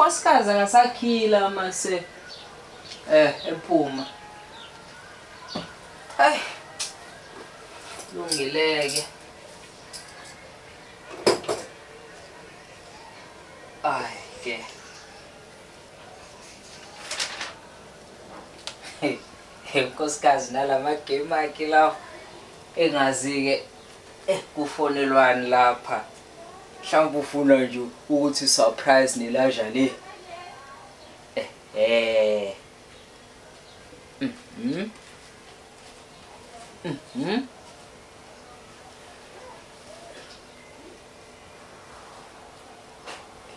unkosikazi akasakhila mase eh ephuma ay lungileke ay ke unkosikazi nalama game akhe lawo engazi-ke Eh kufonelwani lapha? Mhlawumbe ufuna nje ukuthi surprise nelaja le. Eh eh. Mhm. Mhm.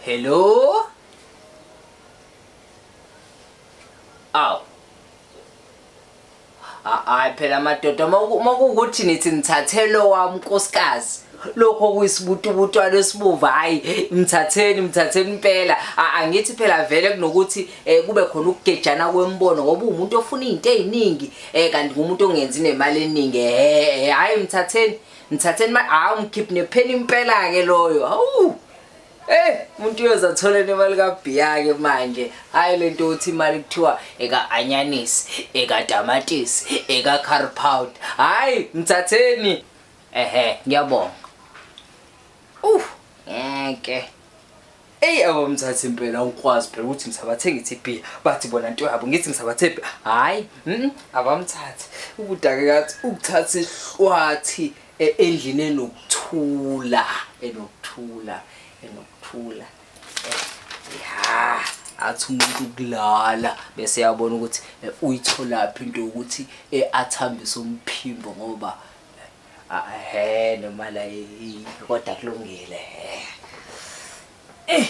Hello? Aw. hayi phela amadoda uma kuwukuthi nithi nithathele owami unkosikazi lokho kuyisibutubutwana esibuvu hhayi mthatheni mthatheni impela angithi phela vele kunokuthi um kube khona ukugejana kwembono ngoba uwumuntu ofuna iy'nto ey'ningi um kanti ngumuntu ongenzi nemali eningi ehhe hhayi mthatheni mthatheni hhayi umkhiphi nepheni impela-ke loyo hawu Hey, umuntu uyoze athole nemali kabhiyake manje. Hayi lento uthi imali kuthiwa eka anyanisi, eka tamatisi, eka curry powder. Hayi, mthatheni. Ehhe, ngiyabonga. Uh, ngeke. Ey abo mthathe impela ukwazi phela ukuthi ngisabathenga iTP bathi bona into yabo ngithi ngisabathephi hayi mhm abamthathe ukudake kathi ukuthatha ihlwathi E, endlini enokuthula enokuthula enokuthula ya athi umuntu ukulala bese yabona ukuthi eh, uyitholaphi into yokuthi eh, athambise umphimbo ngoba he noma la kodwa kulungile he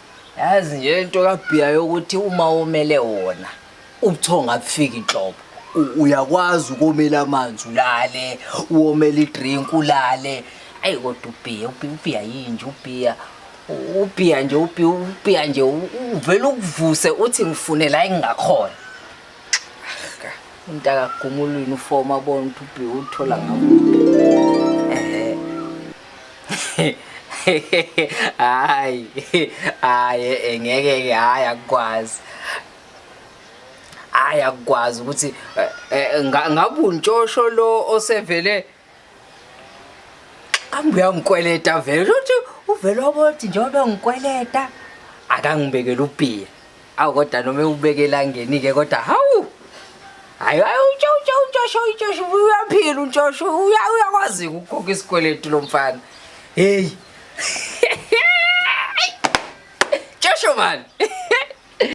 yazi nje into kabhiya yokuthi uma womele wona ubuthongo abufiki inhlobo U- uyakwazi ukomela amanzi ulale uwomela idrink ulale ayi kodwa ubhiya ubhiya ubhiya yinje ubhiya U- ubhiya nje ubhiya ubhiya nje u- uvele ukuvuse uthi ngifune la engingakhona umuntu akagumulwini ufoma abona ukuthi ubhiya uthola ngabo ehe hayi hayi eh, ngeke ke hayi akukwazi hayi akukwazi ukuthi eh, eh, ngabe untshosho lo osevele kambe uyangikweleta vele uthi uvele obothi njengoba ngikweleta akangibekela upiya awu kodwa noma ewubeke elangeni-ke kodwa hawu hayi hayi untshontsho untshosho untshosho uyaphila untshosho uyakwazi-ke ukukhokha isikweletu lo mfana heyi tshosho mani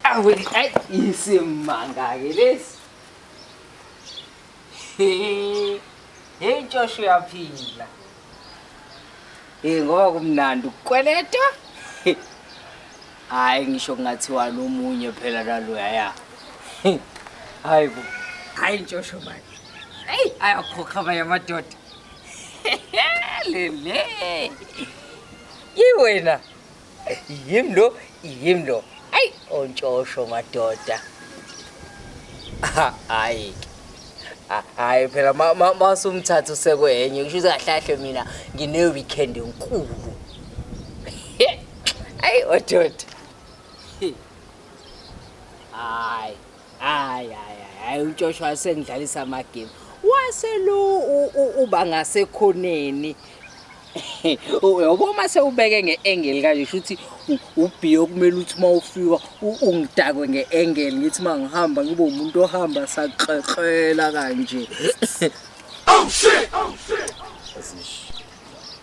awu ayi isimanga-ke lesi Hey Josh uyaphila. Hey ngoba kumnandi ukukweleta. Hayi ngisho kungathiwa nomunye phela laloya ya. Hayi bo. Hayi Josh manje. Hey ayakhokha abanye amadoda. Lele. Yiwena. yim lo yim lo ayi ontshosho madoda hayi hayi phela masumthatha usekwenye ngisho ukuthi kahlahle mina ngine-weekend enkulu ayi ododa hayi hayi hayi hayi ujoshua asengidlalisa amagame waselu uba ngasekhoneni yabo uma sewubeke nge-engeli kanje sho ukuthi ubhiye okumele ukuthi uma ufika ungidakwe nge-engeli ngithi uma ngihamba ngibe umuntu ohamba sakrela kanje oh shit oh shit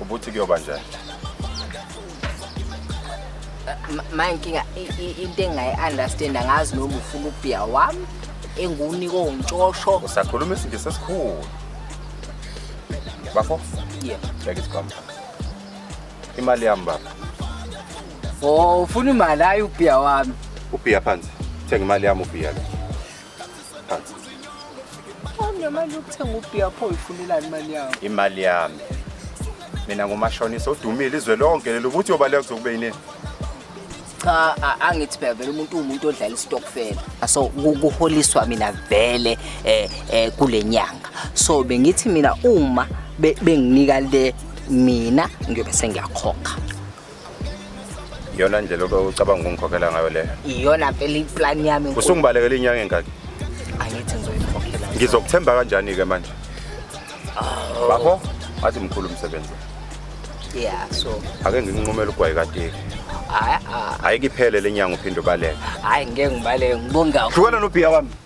ubuthi kuyoba njani ma inkinga into engayi-understand angazi noma ufuna ubhiya wami engiwunika ongitshosho usakhuluma isingisi esikhulu bafo yeah. bheka isikhwama imali yami baba o oh, ufuna imali hayi ubhiya wami ubhiya phansi thenga imali yami ubhiya lo Awunemali yokuthenga ubhiya pho uyifunelani imali yawo? Imali yami. Mina ngumashonisa odumile izwe lonke lelo ukuthi uyobaleka kuzokube yini? Cha a- angithi phela vele umuntu uwumuntu odlala istokfela. So ku- kuholiswa mina vele eh eh kulenyanga. So bengithi mina uma be- benginika le mina ngiyobe sengiyakhokha. iyona ndlela obe ucabanga ukungikhokhela ngayo leyo iyona mpela iplan yami enkulu. usungibalekela inyanga engaki angithi ngizoyikhokhela ngizokuthemba kanjani-ke manje Oh. bafo athi mkhulu umsebenzi yeah so ake nginqumele ugwayi kateki hayi ah, hhayi kiphele le nyanga uphinde ubaleke hayi ngeke ngibaleke ngibonga hlukana nobhiya wami